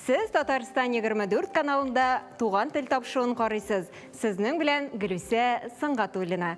Сез Татарстан 24 каналында Туган тел тапшуын карыйсыз. Сезнең белән Гөлүсә Сынгатуллина.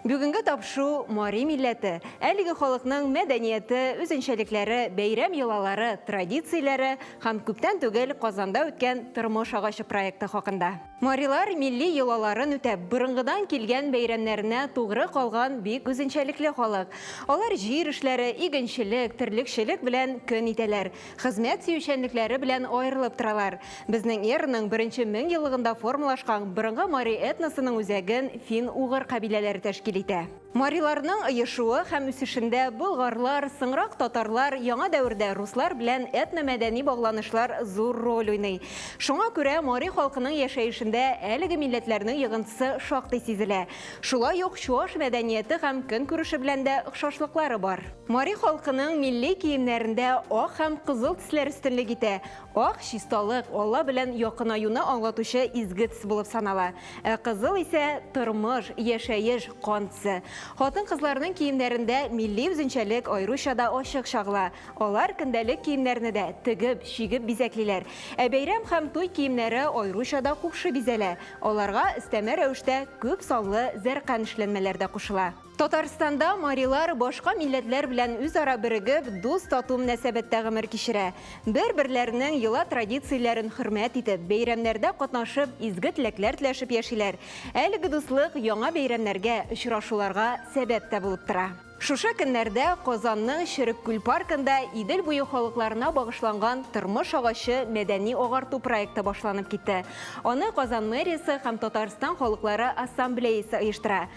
Бүгенге тапшу мари милләте, әлеге халыкның мәдәнияте, үзенчәлекләре, бәйрәм йолалары, традицияләре һәм күптән түгел Казанда үткән Тормыш агачы проекты хакында. Марилар милли йолаларын үтәп, борынгыдан килгән бәйрәмнәренә тугры калган бик үзенчәлекле халык. Алар җир эшләре, игенчелек, терлекчелек белән көн итәләр. Хезмәт сөючәнлекләре белән аерылып торалар. Безнең эраның беренче мең еллыгында формалашкан борынгы мари этносының үзәген фин-угыр кабиләләре тәшкил итә. Мариларның оешуы һәм үсешендә болгарлар, соңрак татарлар, яңа дәвердә руслар белән этномәдәни багланышлар зур роль уйный. Шуңа күрә мари халкының яшәешендә әлеге милләтләрнең йогынтысы шактый сизелә. Шулай ук чуаш мәдәнияте һәм көнкүреше белән дә охшашлыклары бар. Мари халкының милли киемнәрендә ак һәм кызыл төсләр өстенлек итә. Ак, чисталык, Алла белән якынаюны аңлатучы изге төс булып санала. Ә кызыл исә, тормыш, яшәеш, кан төсе. Хатын-кызларның киемнәрендә милли үзенчәлек аеруча да ачык чагыла. Алар көндәлек киемнәрне дә тегеп, чигеп бизәклиләр. Ә бәйрәм һәм туй киемнәре аеруча да кушы бизәлә. Аларга өстәмә рәвештә күп санлы зәркән эшләнмәләр дә кушыла. Татарстанда марилар башка милләтләр белән үзара берегеп, дус-тату мөнәсәбәттә гомер кичерә. Бер-берләренең йола традицияләрен хөрмәт итеп, бәйрәмнәрдә катнашып, изге теләкләр теләшеп яшиләр. Әлеге дуслык яңа бәйрәмнәргә, очрашуларга сәбәп тә булып тора. Шушы көннәрдә Казанның Черек күл паркында Идел буе халыкларына багышланган Тормыш агачы мәдәни-агарту проекты башланып китте. Аны Казан мэриясе һәм Татарстан халыклары ассамблеясе оештыра.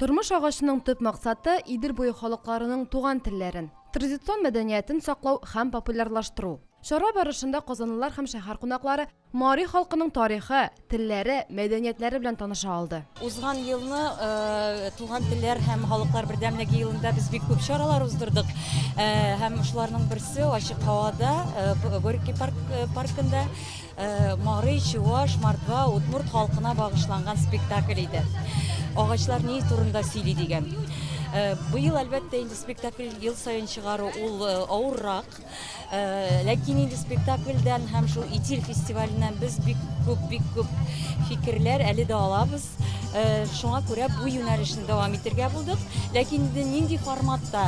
Тормыш агачының төп максаты, Идел буе халыкларының туган телләрен, традицион мәдәниятен саклау һәм популярлаштыру. Чара барышында казанлылар һәм шәһәр кунаклары мари халкының тарихы, телләре, мәдәниятләре белән таныша алды. Узган елны Туган телләр һәм халыклар бердәмлеге елында без бик күп чаралар уздырдык. Һәм шуларның берсе, ачык һавада, Горький паркында. Мари, чуваш, мордва, удмурт халкына багышланган спектакль иде. Агачлар ни турында сөйли дигән. Э, быел, әлбәттә, инде спектакль ел саен чыгару ул э, авыррак. Э, ләкин инде спектакльдән һәм шул Итил фестиваленнән без бик күп, бик күп фикерләр әле дә алабыз. Шуңа күрә бу юнәлешне дәвам итергә булдык. Ләкин инде нинди форматта?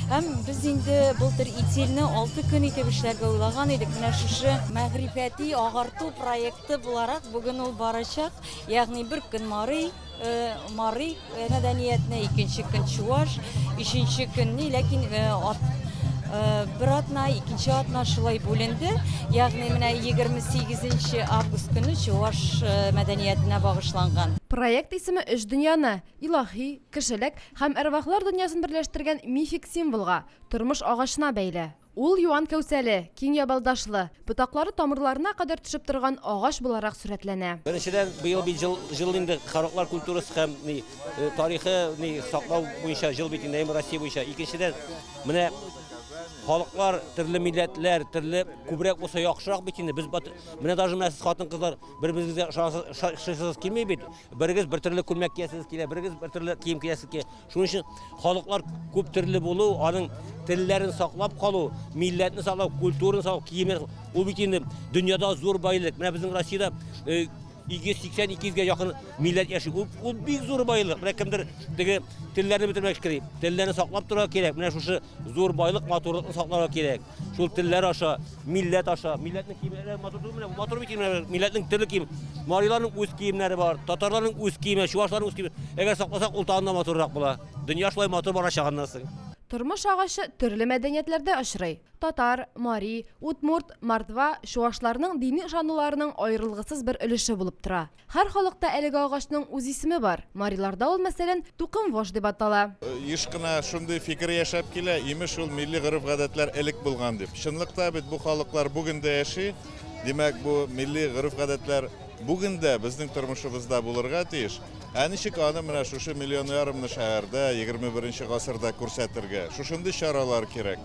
Һәм без инде былтыр итилне 6 көн итеп эшләргә уйлаган идек. Менә шушы мәгърифәти агарту проекты буларак бүген ул барачак. Ягъни бер көн Марый, Марый мәдәниятне, икенче көн Чуаш, өченче көнне, ләкин Бер атна, икенче атна шулай бүленде. Ягъни менә 28 август көне чуаш мәдәниятенә багышланган. Проект исеме өч дөньяны, илаһи, кешелек һәм әрвахлар дөньясын берләштергән мифик символга, тормыш агачына бәйле. Ул юан кәүсәле, киң ябалдашлы, Ботаклары тамырларына кадәр төшеп торган агач буларак сурәтләнә. Беренчедән, быел бит җыл, җыл инде Хараклар культурасы һәм ни, э, тарихы ни, саклау буенча җыл бит инде, әйме Россия буенча. Икенчедән, менә халыклар, төрле милләтләр, төрле күбрәк булса яхшырак бит инде. Без бат- менә даже менә сез хатын-кызлар бер-берегезгә ошагансыз, ша- шыйсыз килми бит. Берегез бер төрле күлмәк киясез килә, берегез бер төрле кием киясез килә. Шуның өчен халыклар күп төрле булу, аның телләрен саклап калу, милләтне саклау, культураны саклау, киеме, ул бит инде дөньяда зур байлык. Менә безнең Россиядә 282 га якын милләт яши. Ул, ул бик зур байлык. Менә кемдер теге телләрне бетермәк кирәк. Телләрне саклап торырга кирәк. Менә шушы зур байлык, матурлыкны сакларга кирәк. Шул телләр аша, милләт аша, милләтнең киемнәре матур түгелме? Бу матур бит киемнәр, милләтнең төрле кием. Мариларның үз киемнәре бар, татарларның үз киеме, чуашларның үз киеме. Әгәр сакласак, ул тагын да матуррак була. Дөнья шулай матур барачак аннан соң. Тормыш агачы төрле мәдәниятләрдә очрый. Татар, мари, удмурт, мордва, чуашларның дини ышануларының аерылгысыз бер өлеше булып тора. Һәр халыкта әлеге агачның үз исеме бар. Мариларда ул, мәсәлән, тукымвош дип атала. Еш кына шундый фикер яшәп килә, имеш, ул милли гореф-гадәтләр элек булган дип. Чынлык та бит, бу халыклар бүген дә яши. Димәк, бу милли гореф-гадәтләр бүген дә безнең тормышыбызда булырга тиеш. Ә ничек аны менә шушы миллион ярымны шәһәрдә, егерме беренче гасырда күрсәтергә? Шушындый чаралар кирәк.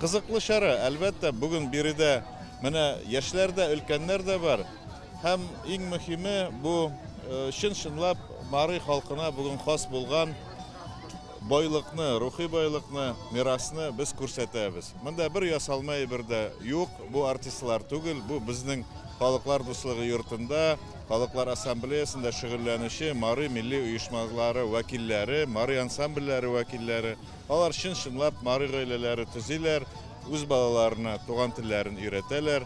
Кызыклы чара, әлбәттә, бүген биредә менә яшьләр дә, өлкәннәр дә бар. Һәм иң мөхиме, бу чын-чынлап Мари халкына бүген хас булган байлыкны, рухи байлыкны, мирасны без күрсәтәбез. Монда бер ясалма әйбер дә юк, бу артистлар түгел, бу безнең Халыклар дуслыгы йортында, Халыклар ассамблеясендә шөгыльләнүче Мари милли оешмалары вәкилләре, Мари ансамбльләре вәкилләре. Алар чын-чынлап Мари гаиләләре төзиләр, үз балаларына туган телләрен өйрәтәләр.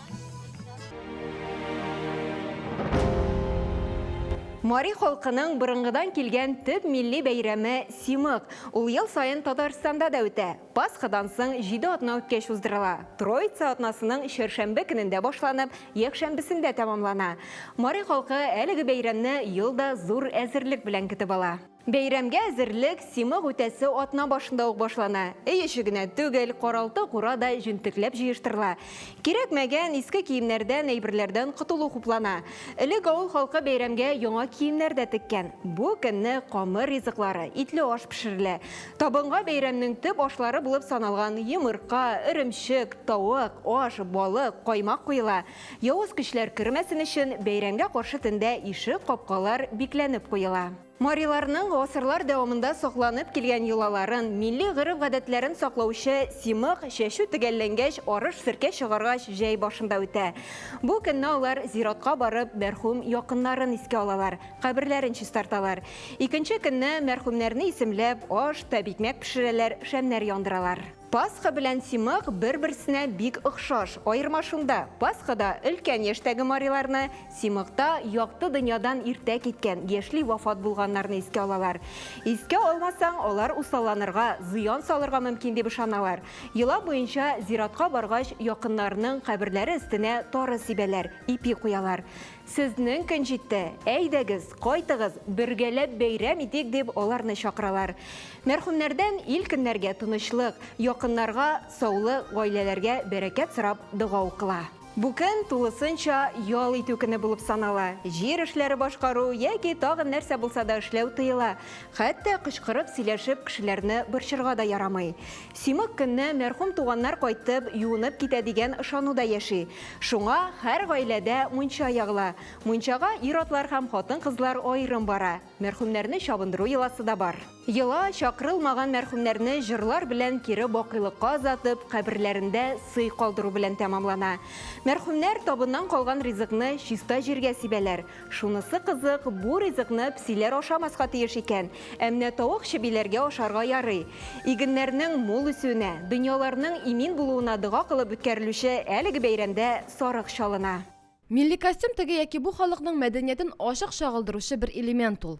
Мари халкының борынгыдан килгән төп милли бәйрәме Симык. Ул ел саен Татарстанда да үтә. Пасхадан соң җиде атна үткәч уздырыла. Троица атнасының чәршәмбе көнендә башланып, якшәмбесендә тәмамлана. Мари халкы әлеге бәйрәмне ел да зур әзерлек белән көтеп ала. Бәйрәмгә әзерлек Симык үтәсе атна башында ук башлана. Өй эче генә түгел, каралты-кура да җентекләп җыештырыла. Кирәкмәгән, иске киемнәрдән, әйберләрдән котылу хуплана. Элек авыл халкы бәйрәмгә яңа киемнәр дә теккән. Бу көнне камыр ризыклары, итле аш пешерелә. Табынга бәйрәмнең төп ашлары булып саналган йомырка, эремчек, тавык, аш, балык, каймак куела. Явыз көчләр кермәсен өчен, бәйрәмгә каршы төндә ишек, капкалар бикләнеп куела. Мариларның гасырлар дәвамында сакланып килгән йолаларын, милли гореф-гадәтләрен саклаучы Симык, чәчү төгәлләнгәч, арыш-серкә чыгаргач, җәй башында үтә. Бу көнне алар зиратка барып, мәрхүм якыннарын искә алалар, каберләрен чистарталар. Икенче көнне мәрхүмнәрне исемләп, аш, тәбикмәк пешерәләр, шәмнәр яндыралар. Пасха белән Симак бер-берсенә бик охшаш, аерма шунда, Пасхада өлкән яшьтәге мариларны, Симакта якты дөньядан иртә киткән, яшьли вафат булганнарны искә алалар. Искә алмасаң, алар усалланырга, зыян салырга мөмкин дип ышаналар. Йола буенча, зиратка баргач, якыннарының каберләре өстенә тары сибәләр, ипи куялар. Сезнең көн җитте, әйдәгез, кайтыгыз, бергәләп бәйрәм итик, дип аларны чакыралар. Мәрхүмнәрдән ил көннәргә тынычлык, якыннарга саулы гаиләләргә бәрәкәт сорап дога укыла. Бу көн тулысынча ял итү көне булып санала. Җир эшләре башкару яки тагын нәрсә булса да эшләү тыела. Хәтта кычкырып сөйләшеп кешеләрне борчырга да ярамый. Симак көнне мәрхүм туганнар кайтып, юынып китә дигән ышануда яши. Шуңа һәр гаиләдә мунча ягыла. Мунчага ир-атлар һәм хатын-кызлар аерым бара. Мәрхүмнәрне чабындыру йоласы да бар. Йола, чакырылмаган мәрхүмнәрне җырлар белән кире бакыйлыкка озатып, каберләрендә сый калдыру белән тәмамлана. Мәрхүмнәр табыннан калган ризыкны чиста җиргә сибәләр. Шунысы кызык, бу ризыкны псиләр ашамаска тиеш икән, ә менә тавык чебиләргә ашарга ярый. Игеннәрнең мул үсүенә, дөньяларның имин булуына дога кылып үткәрелүче әлеге бәйрәмдә сарык чалына. Милли костюм теге яки бу халыкның мәдәниятен ачык чагылдыручы бер элемент ул.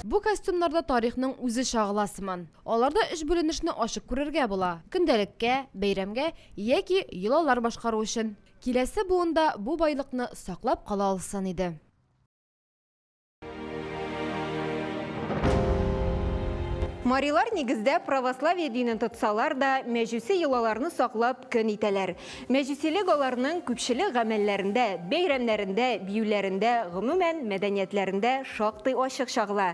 Бу костюмнарда тарихның үзе чагыла сыман. Аларда өч бүленешне ачык күрергә була, көндәлеккә, бәйрәмгә яки йолалар башкару өчен. Киләсе буын да бу байлыкны саклап кала алсын иде. Марилар нигездә православие динен тотсалар да, мәҗүси йолаларны саклап көн итәләр. Мәҗүсилек аларның күпчелек гамәлләрендә, бәйрәмнәрендә, биюләрендә, гомумән, мәдәниятләрендә шактый ачык чагыла.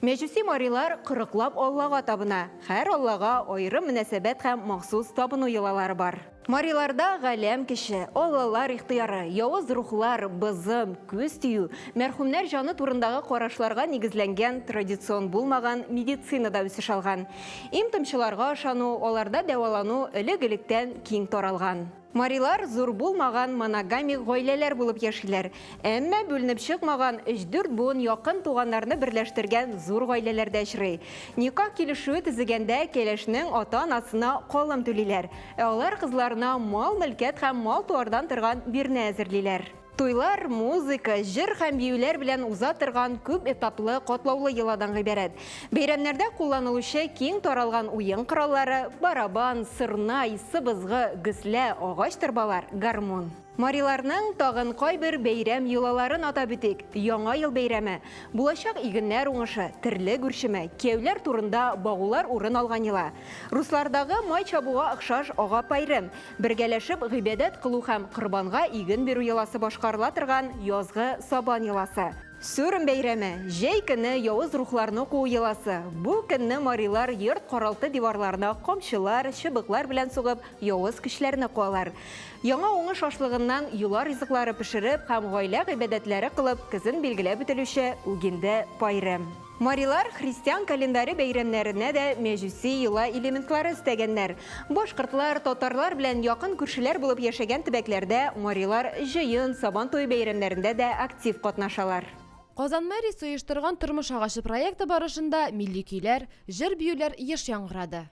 Мәҗүси марилар кырыклап аллага табына, һәр аллага аерым мөнәсәбәт һәм махсус табыну йолалары бар. Мариларда галәм көче, аллалар ихтыяры, явыз рухлар, бызым, күз тию, мәрхүмнәр җаны турындагы карашларга нигезләнгән традицион булмаган медицина да үсеш алган. Им-томчыларга ышану, аларда дәвалану элек-электән киң таралган. Марилар зур булмаган моногамик гаиләләр булып яшиләр. Әмма бүленеп чыкмаган, өч-дүрт буын якын туганнарны берләштергән зур гаиләләр дә очрый. Никах килешүе төзегәндә кәләшнең ата-анасына калым түлиләр, ә алар кызларына мал-мөлкәт һәм мал-туардан торган бирнә әзерлиләр. Туйлар, музыка, җыр һәм биюләр белән уза торган күп этаплы, катлаулы йоладан гыйбарәт. Бәйрәмнәрдә кулланылучы киң таралган уен кораллары, барабан, сырнай, сыбызгы, гөслә, агач торбалар, гармун. Мариларның тагын кайбер бәйрәм йолаларын атап үтик, Яңа ел бәйрәме, булачак игеннәр уңышы, терлек үрчеме, кияүләр турында багулар урын алган йола, руслардагы май чабуга охшаш ага-пайрем, Бергәләшеп гыйбадәт кылу һәм корбанга иген бирү йоласы башкарыла торган язгы Сабан йоласы. Сүрем бәйрәме, җәй көне явыз рухларны куу йоласы. Бу көнне марилар йорт-каралты диварларына камчылар, чыбыклар белән сугып, явыз көчләрне куалар. Яңа уңыш ашлыгыннан йола ризыклары пешереп һәм гаилә гыйбадәтләре кылып көзен билгеләп үтелүче үгинде бәйрәм. Марилар христиан календаре бәйрәмнәренә дә мәҗүси йола элементлары өстәгәннәр. Башкортлар, татарлар белән якын күршеләр булып яшәгән төбәкләрдә марилар җыен, Сабан туе бәйрәмнәрендә дә актив катнашалар. Казан мэриясе оештырган Тормыш агачы проекты барышында милли көйләр, җыр-биюләр еш яңгырады.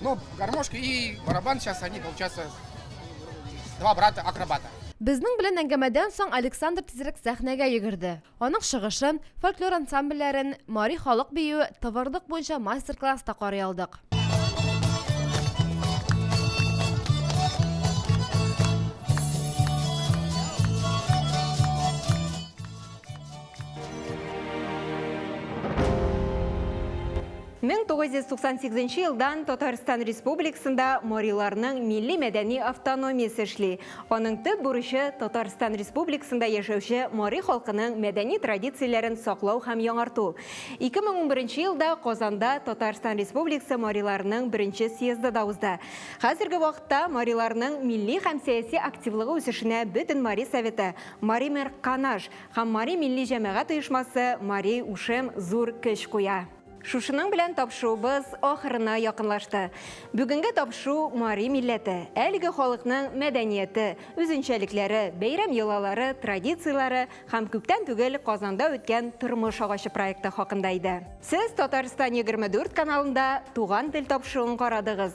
Ну, гармошка и барабан сейчас они получаются два брата акробата. Безнең белән әңгәмәдән соң Александр тизрәк сәхнәгә йөгерде. Аның чыгышын, фольклор ансамбльләрен, мари халык бию, товарлык буенча мастер-класс та карый алдык. 1998 елдан Татарстан Республикасында мориларның милли мәдәни автономиясе эшли. Аның төп бурычы Татарстан Республикасында яшәүче мори халкының мәдәни традицияләрен саклау һәм яңарту. 2011 елда Казанда Татарстан Республикасы мориларының беренче съезды да узды. Хәзерге вакытта мориларның милли һәм сәяси активлыгы үсешенә бөтен мари советы, Маример Канаш, Һәм Мари милли җәмәгать оешмасы Мари Ушем зур көч куя. Шушының белән тапшуыбыз ахырына якынлашты. Бүгенге тапшу мари милләте, әлеге халыкның мәдәнияте, үзенчәлекләре, бәйрәм йолалары, традицияләре һәм күптән түгел Казанда үткән Тормыш агачы проекты хакында иде. Сез Татарстан 24 каналында Туган тел тапшуын карадыгыз.